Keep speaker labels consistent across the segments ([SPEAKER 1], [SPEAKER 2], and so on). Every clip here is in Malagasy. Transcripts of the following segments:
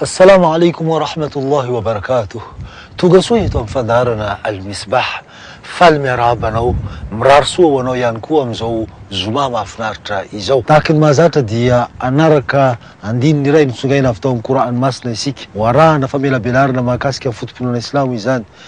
[SPEAKER 1] Assalamu alaikum wa rahmatullahi wa barakatuh Tonga soa eto amin'ny fandaharana Al-Misbah. Faly miarahaba anao. Mirary soa ho anao ihany koa amin'izao Zoma mahafinaritra izao. Tahaka ny mahazatra dia hanaraka andininy iray notsongaina avy tao amin'ny Kor'any Masina isika. Ho arahana famelabelarana mahakasika ny foto-pinoana Islamo izany.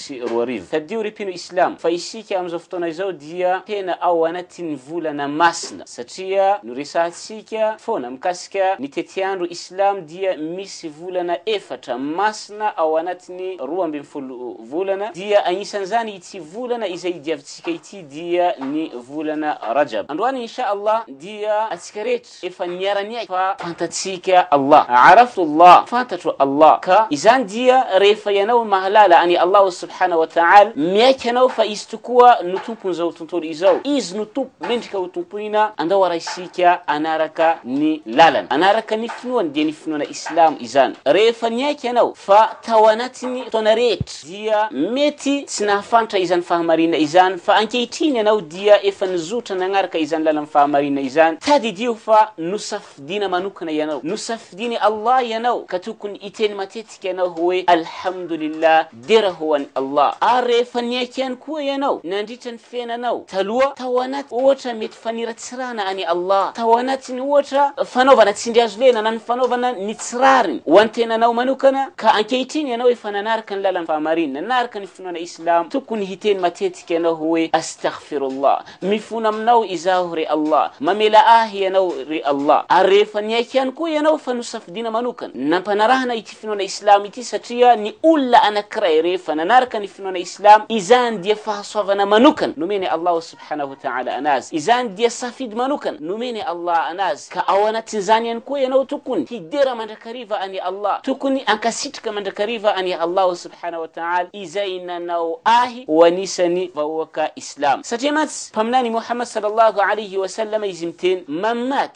[SPEAKER 2] sy roa arivo. Tadidio ry mpino Islam fa isika amin'izao fotoana izao dia tena ao anatin'ny volana masina satria no resahantsika foana mikasika ny tetiandro Islam dia misy volana efatra masina ao anatin'ny roa ambin'ny folo volana dia agnisan'izany ity volana izay idiavintsika ity dia ny volana Rajab. Androany Insha Allah dia atsika rehetra Efa niara-niaina fa fantatsika Allah, Araftu Allah, fantatro Allah, ka izany dia rehefa ianao mahalala an'i Allah Subhana wa Ta'al, miaiky ianao fa Izy tokoa no Tompon'izao tontolo izao, Izy no Tompo mendrika ho tompoina, andao arahisika hanaraka ny lalany, hanaraka ny finoany, dia ny finoana Islamo izany. Rehefa niaiky ianao fa tao anatin'ny fotoana rehetra, dia mety tsy nahafantra izany fahamarinana izany, fa ankehitriny ianao dia efa nizotra nanaraka izany lalan'ny fahamarinana izany, tadidio fa nosafidiana manokana ianao, nosafidian'i Allah ianao, ka tokony hiteny matetika ianao hoe, Alhamdulillah, dera ho an'i Allah, ary rehefa niaiky ihany koa ianao nandritra ny. tenanao taloha tao anaty ohatra mety faniratsirana an'i Allah, tao anatin'ny ohatra fanaovana tsindry hazo lena na ny fanaovana ny tsy rariny ho an-tenanao manokana, ka ankehitriny ianao efa nanaraka ny lalan'ny fahamarinana, nanaraka ny finoana Islamo, tokony hiteny matetika ianao hoe, Astaghfirullah, mifona aminao izaho ry Allah, mamela ahy ianao ry Allah, ary rehefa niaiky ihany koa ianao fa nosafidiana manokana ny nampanarahana ity finoana Islamo ity satria ny olona anankiray rehefa nanaraka ny finoana Islamo, izany dia fahasoavana manokana nomen'i Allah subhanahu wa ta'ala anazy, izany dia safidy manokana nomen'i Allah anazy, ka ao anatin'izany ihany koa ianao tokony hidera mandrakariva an'i Allah, tokony hankasitraka mandrakariva an'i Allah subhanahu wa ta'ala izay nanao ahy ho anisan'ny vahoaka Islamo. Satria mantsy Mpaminany Muhammad sallallahu alayhi wa sallam izy miteny, Man mat,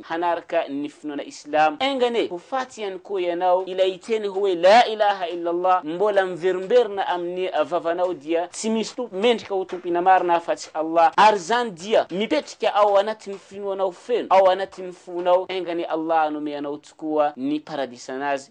[SPEAKER 2] hanaraka ny finoana islamo enga anie ho faty ihany koa ianao ilay teny hoe la ilaha illa allah mbola miverimberina amin'ny vavanao dia tsy misy tompo mendrika ho tompina marina afa-tsy allah ary izany dia mipetrika ao anatin'ny finoanao feno ao anatin'ny fonao enga anie allah hanome anao tokoa ny paradisanazy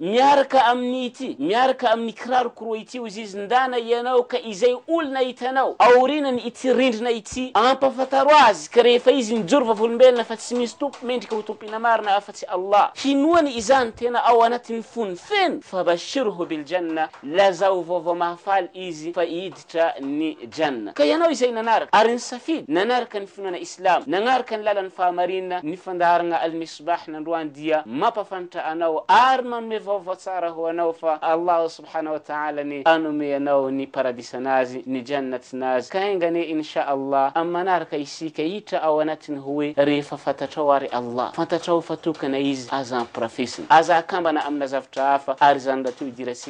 [SPEAKER 2] Miaraka amin'ny ity, miaraka amin'ny kiraro koroa ity ho zizindàna ianao ka izay olona hitanao aorianan' ity rindrina ity, ampafantaro azy ka rehefa izy mijoro vavolombelona fa tsy misy tompo mendrika ho tompiana marina afa-tsy Allah, hinoany izany tena ao anatin'ny fony feno, fa bashirhu bil jannah, lazao vaovao mahafaly izy fa i tra ny Jannah. Ka ianao izay nanaraka, ary nisafidy, nanaraka ny finoana Islamo, nagnaraka ny lalan'ny fahamarinana, ny fandaharagna Al-Misbah nandroany dia mampafantra anao ary manome vaovao tsara ho anao fa Allahu Subhana wa Ta'ala anie anome anao ny Paradisanazy, ny Jannatnazy, ka enga anie Insha Allah amin'ny manaraka isika hiditra ao anatiny hoe rehefa fantatrao ary Allah, fantatrao fa tokana Izy, aza ampirafesina, aza akambana amina zavtra hafa ary izany mba te ho idirantsika.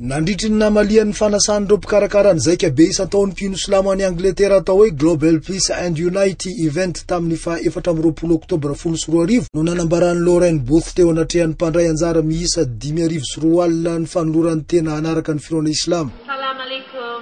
[SPEAKER 1] Nandritry ny namalian'ny fanasan'ireo mpikarakara ny Zaika Be isan-taon'ny mpino silamo any Angletera atao hoe Global Peace and Unity Event tamin'ny faha efatra amby roapolo Oktobra folo sy roa arivo no nanambaran'i Lauren Booth teo anatrehan'ny mpandray anjara miisa dimy arivo sy roa alina ny fanolorany tena hanaraka ny finoana Islamo. Salam alaikum.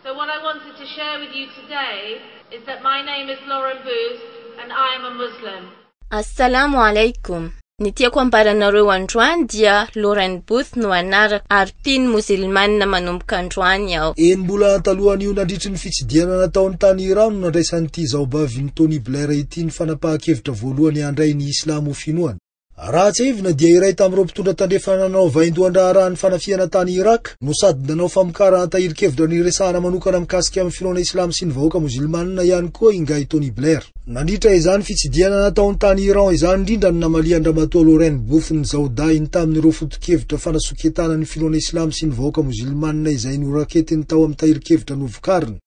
[SPEAKER 3] So what I wanted to share with you today is that my name is Lauren Booth and I am a Muslim. Assalamu
[SPEAKER 4] Alaikum. Ny tiako ambara anareo androany dia Lauren Booth no anarako ary mpino mozilmana manomboka androany aho. Enim-bolana talohan'io
[SPEAKER 1] nandritry ny fitsidihana nataony tany Iran no nandraisan'ity zaobavin'i Tony Blair ity ny fanapahan-kevitra voalohany handray ny Islamo ho finoana. Raha tsiahivina dia iray tamin'ireo mpitondra tandrefana nanao vaindohan-draharaha ny fanafihana tany Irak no sady nanao famokarana tahirin-kevitra niresahana manokana mikasika amin'ny finoana Islamo sy ny vahoaka mozilmana ihany koa ingahy Tony Blair. Nandritra izany fitsidihana nataony tany Iran izany indrindra no namalian-dRamatoa Lorraine Bouff ny zaodahiny tamin'ireo foto-kevitra fanasoketana ny finoana Islamo sy ny vahoaka Mozilmana izay noraketiny tao amin'ny tahirin-kevitra novokariny.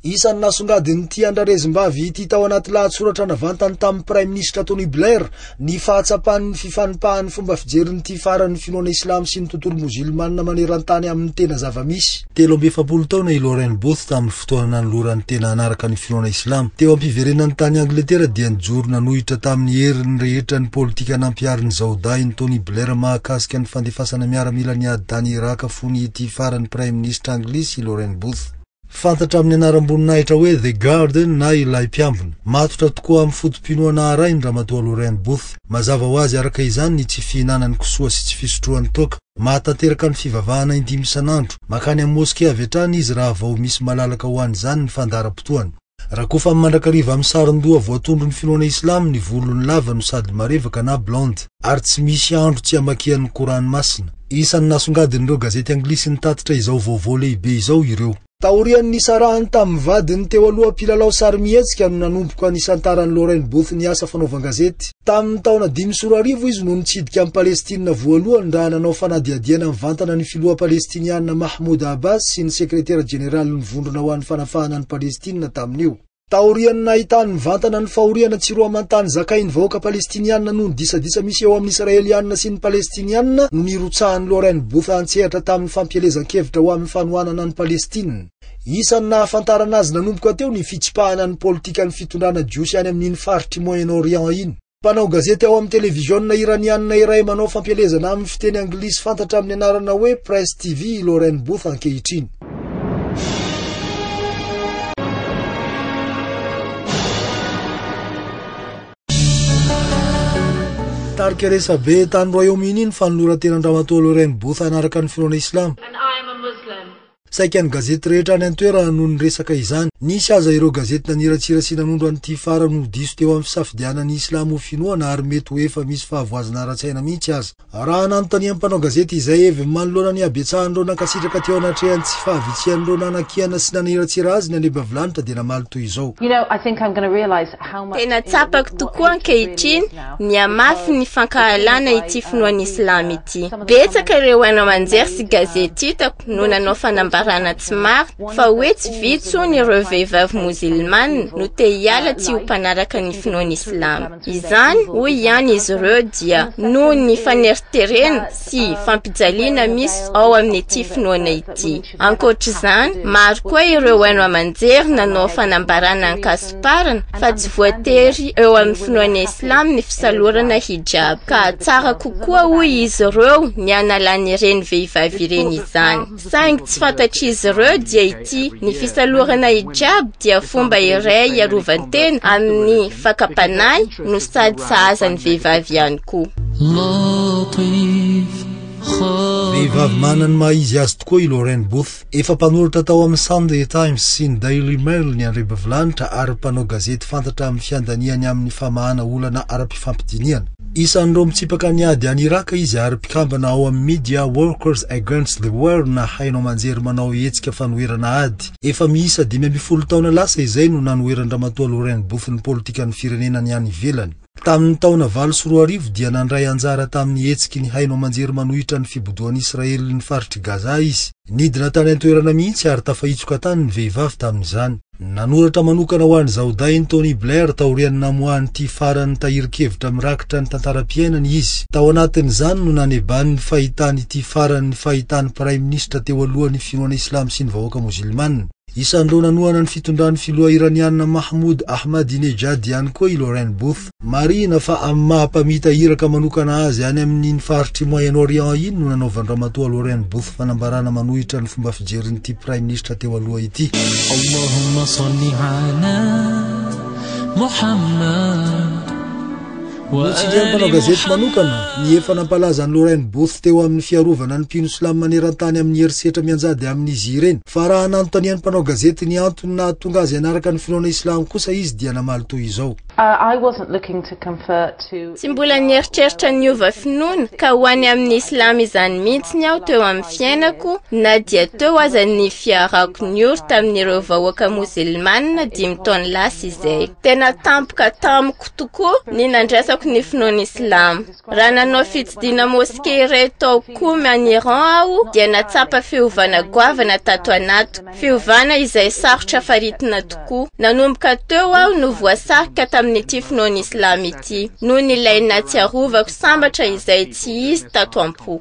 [SPEAKER 1] Isan'ny nasongadin'ity andrarezim-bavy ity tao anaty lahatsoratra navantany tamin'ny Praiminisitra Tony Blair Ny fahatsapan'ny fifanipahan'ny fomba fijerin'ity faran'ny finoana Islamo sy ny tontolo Mozilmana maneran-tany amin'ny tena zava-misy. Telo amby efapolo taona i Lorraine Booth tamin'ny fotoana nanolorany tena hanaraka ny finoana Islamo. Teo am-piverenany tany Angletera dia nijoro nanohitra tamin'ny heriny rehetra ny politika nampiharin'ny zaodahin'i Tony Blair mahakasika ny fandefasana miaramila ny ady tany Iràka fony ity faran'ny Praiminisitra Anglisy i Lorraine Booth. Fantatra amin'ny anaram-boninahitra hoe The Garden na Ilay Mpiambina. Matotra tokoa amin'ny foto-pinoana arahin'i Ramatoa Lorraine Booth. Mazava ho azy araka izany ny tsy fihinanan'i kisoa sy tsy fisotroany toaka. Mahatanteraka ny fivavahana indimy isan'andro. Mankany amin'ny moske avy hatrany izy raha vao misy malalaka ho an'izany ny fandaharam-potoany. Rakofana mandrakariva amin'ny saron-doha voatondron'ny finoana Islam ny volony lava no sady marevaka na blonde ary tsy misy andro tsy amakian'ny Kor'any masina. Isan'ny nasongadin'ireo gazety anglisy nitatitra izao vaovao lehibe izao ireo. Taorian'ny nisarahany tamin'ny vadiny teo aloha mpilalao sarimihetsika no nanomboka nisantaran'i Lorraine Booth ny asa fanaovan-gazety. Tamin'ny taona dimy sy roa arivo izy no nitsidika an'i Palestina voalohany raha nanao fanadihadiana mivantana ny filoha Palestiniana Mahmoud Abbas sy ny sekretera jeneralin'ny Vondrona ho an'ny Fanafahana an'i Palestina tamin'io.
[SPEAKER 5] Taorian'ny nahitany mivantana ny fahoriana tsy roa aman-tany zakain'ny vahoaka Palestiniana noho ny disadisa misy eo amin'ny Israeliana sy ny Palestiniana no nirotsahan'i Lauren Booth an-tsehatra tamin'ny fampielezan-kevitra ho amin'ny fanohanana an'i Palestina. Isan'ny nahafantarana azy nanomboka teo ny fitsipahana ny politikan'ny fitondrana jiosy any amin'iny faritr'i Moyen-Orient iny. Mpanao gazety ao amin'ny televiziona Iraniana iray manao fampielezana amin'ny fiteny anglisy fantatra amin'ny anarana hoe Press TV i Lauren Booth ankehitriny. Tarika resabe tany Royaume-Uni ny fanoloran-tenan-dRamatoa Lauren Booth hanaraka ny finoana Islamo.
[SPEAKER 3] Saika ny gazety
[SPEAKER 5] rehetra any an-toerana no niresaka izany. Nisy aza ireo gazety naniratsira sy nanondro an'ity farany ho diso teo amin'ny fisafidianana ny Islamo ho finoana ary mety ho efa misy fahavoazana ara-tsaina mihitsy aza. Raha nanontanian'ny mpanao gazety izay heviny manoloana ny habetsahan'ireo nankasitraka teo anatrehan'ny tsy fahavitsihan'ireo nanakiana sy naniratsira azy ny Andriambavilanitra dia namaly toy izao.
[SPEAKER 4] Tena tsapako tokoa ankehitriny Mihamafy ny fankahalana ity finoana Islam ity. Betsaka ireo haino aman-jery sy gazety hitako no nanao fanambarana tsy marina fa hoe tsy vitsy hono ireo vehivavy mozilmana no te hiala tsy ho mpanaraka ny finoana Islam. Izany, hoy ihany izy ireo, dia noho ny faneriterena sy fampijaliana misy ao amin'ity finoana ity. ady. Ankoatra izany, maro koa ireo haino aman-jery nanao fanambarana an-kasomparana fa tsy voatery eo amin'ny finoana islamo ny fisalorana hijab, ka tsara kokoa hoy izy ireo ny hanalan'ireny vehivavy ireny izany. Saingy tsy fantatr'izy ireo dia ity, ny fisalorana hijab dia fomba iray hiarovan-tena amin'ny fakam-panahy no sady sahaza ny vehivavy ihany koa.
[SPEAKER 5] Vehivavy manana ny maha izy azy tokoa i Lauren Booth. Efa mpanoratra tao amin'ny Sunday Times sy ny Daily Mail ny andriambavilanitra ary mpanao gazety fantatra amin'ny fiandaniany amin'ny famahana olana ara-pifampidinihana. Isan'ireo mitsipaka ny ady any Iràka izy ary mpikambana ao amin'ny Media Workers Against the War na haino aman-jery manao hetsika fanoherana ady. Efa miisa dimy ambin'ny folo taona lasa izay no nanoheran-dRamatoa Lauren Booth ny politikan'ny firenena ny any ivelany. Tamin'ny taona valo sy roa arivo dia nandray anjara tamin'ny hetsiky ny haino aman-jery manohitra ny fibodoan'i Israely ny faritr'i Gaza izy. Nidina tany an-toerana mihitsy ary tafahitsoka tany ny vehivavy tamin'izany. Nanoratra manokana ho an'i Zaodayny Tony Blair taorian'ny namoahany ity faran'ny tahirin-kevitra mirakitra ny tantaram-piainany izy. Tao anatin'izany no nanebany ny fahitany ity faran'ny fahitany Praiminisitra teo alohan'ny finoana islamo sy ny vahoaka mozilmana. Isan'ireo nanohana ny fitondran'ny filoha Iraniana Mahmoud Ahmadinejad ihany koa i Lauren Both. Marihina fa amin'ny maha mpamita iraka manokana azy any amin'iny faritr'i Moyen-Orient iny no nanaovan-dRamatoa Lauren Both fanambarana manohitra ny fomba fijerin'ity praiminisitra teo aloha ity. Allahumma
[SPEAKER 6] salli ala Mohammad.
[SPEAKER 5] Notsindrin'ny mpanao gazety manokana ny efa nampalaza an'i Lorraine Booth teo amin'ny fiarovana ny mpino silamo maneran-tany amin'ny herisetra mianjady amin'izy ireny, fa raha nanontanian'ny mpanao gazety ny antony nahatonga azy hanaraka ny finoana islamo kosa izy dia namaly toy izao.
[SPEAKER 4] Tsy mbola nieritreritra ny hiova finoana ka ho any amin'ny islamo izany mihitsy ny aho teo amin'ny fiainako na dia teo aza ny fiarahako niory tamin'ireo vahoaka mozilmana dimy taona lasa izay. Tena tampoka tamiko tokoa ny nandraisako ny finoana Islamo. Raha nanao fitsidina moske iray tao Qom any Iran aho dia natsapa fiovana goavana tato anatiko, fiovana izay sarotra faritina tokoa. Nanomboka teo aho no voasarika tamin'ity finoana Islamo ity, noho ny ilay nahatsiarovako sambatra izay tsy izy tato am-po.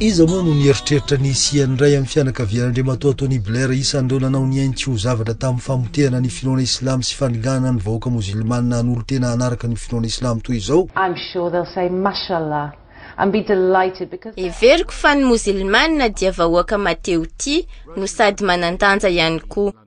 [SPEAKER 5] Iza moa no nieritreritra ny hisian'ny iray amin'ny fianakavian'Andriamatoa Tony Blair isan'ireo nanao ny ainy tsy ho zavatra tamin'ny famotehana ny finoana Islamo sy fanenganana ny vahoaka Mozilmana hanolo-tena hanaraka ny finoana Islamo toy izao? I'm sure they'll say Mashallah and be
[SPEAKER 4] delighted because they are Heveriko fa ny Mozilmana dia vahoaka mahatehotia no sady manan-danja ihany koa.